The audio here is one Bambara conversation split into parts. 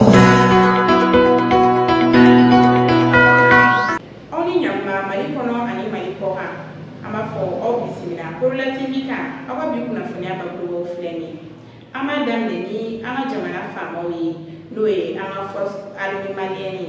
aw ni ɲakuma mali kɔnɔ ani mali kɔkan an b'a fɔ aw bisimila korola tv kan aw ka bi kunnafoniya bakurubaw filɛ nin an b'a daminɛ ni an ka jamana faamaw ye n'o ye an ka forces armées maliennes ye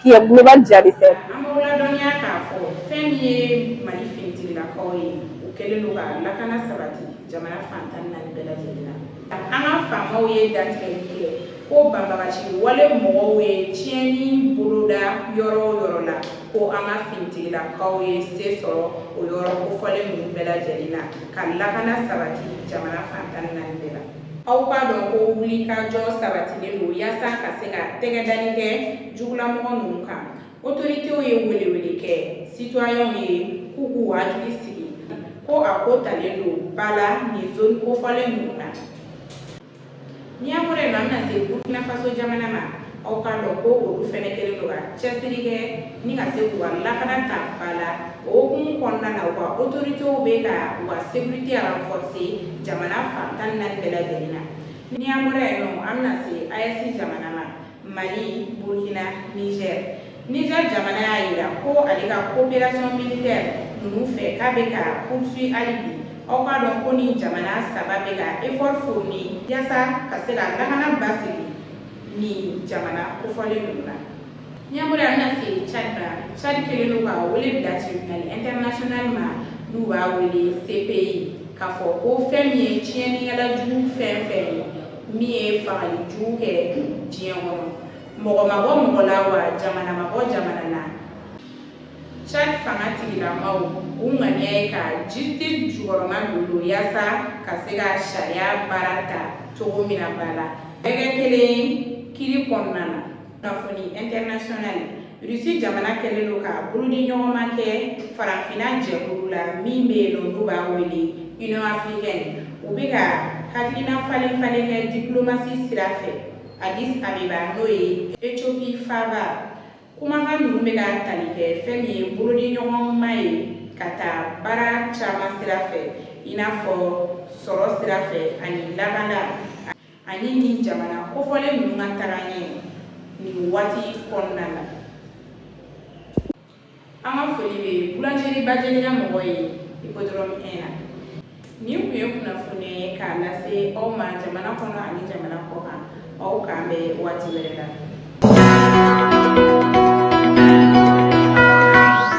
Kiyɛ Global Jaabi fɛ. An b'aw ladɔnniya k'a fɔ, fɛn min ye Mali finitigilakaw ye, u kɛlen don ka lakana sabati jamana fan tan ni naani bɛɛ lajɛlen na. An ka faamaw ye dantigɛli kɛ ko banbaganci wale mɔgɔw ye tiɲɛni boloda yɔrɔ o yɔrɔ la, ko an ka finitigilakaw ye se sɔrɔ o yɔrɔ kofɔlen ninnu bɛɛ lajɛlen na, ka lakana sabati jamana fan tan ni naani bɛɛ la. aw k'a dɔn ko wulikajɔ sabatilen don yaasa ka se ka tɛgɛdani kɛ jugulamɔgɔ ninnu kan otoritew ye welewele kɛ sitɔyɛnw ye k'u k'u hakili sigi ko a ko talen don ba la nin zoni kofɔlen ninnu na ni an bɔra yen nɔ an bɛna se burkina faso jamana ma aw k'a dɔn ko olu fɛnɛ kɛlen don ka cɛsiri kɛ ni ka se k'u ka lakana ta ba la o hukumu kɔnɔna na u ka otoritew bɛ ka u ka sekirite ranfɔrse jamana fan tan ni naani bɛɛ lajɛlen na ni an bɔra yen nɔ an bɛna se aes jamana ma mali burkina niger niger jamana y'a jira ko ale ka coopération militaire ninnu fɛ k'a bɛ ka poursuit hali bi aw k'a dɔn ko nin jamana saba bɛ ka effort fourni yasa ka se ka lakana basigi nin jamana kofɔlen ninnu na n'an bɔra an bɛna se cadi la cadi kɛlen don ka wele bila tribunal international ma n'u b'a wele cpi k'a fɔ ko fɛn min ye tiɲɛnikɛla jugu fɛn fɛn ye min ye fagali jugu kɛ diɲɛ kɔnɔ mɔgɔ ma bɔ mɔgɔ la wa jamana ma bɔ jamana na Chad fanga tigilamaw u ŋaniya ye ka justice jukɔrɔma dondon yaasa ka se ka sariya baara ta cogo min na ba la bɛɛ kɛ kelen kiiri kɔnɔna na kunnafoni international rusi jamana kɛlen don ka bolodiɲɔgɔnma kɛ farafinna jɛkulu la min bɛ yen nɔ n'u b'a wele union africaine u bɛ ka hakilina falen falen kɛ diplomasi sira fɛ addis abeba n'o ye ethiopie faaba kumakan ninnu bɛ ka tali kɛ fɛn min ye bolodiɲɔgɔnma ye ka taa baara caman sira fɛ i n'a fɔ sɔrɔ sira fɛ ani lakana ani nin jamana kofɔlen ninnu ka tagaɲɛ nin waati kɔnɔna na an ka foli bɛ bulanzeri bajelika mɔgɔ ye hippodrome un na Nin tun ye kunnafoni ye k'a lase aw ma jamana kɔnɔ ani jamana kɔ kan aw k'an bɛn waati wɛrɛ la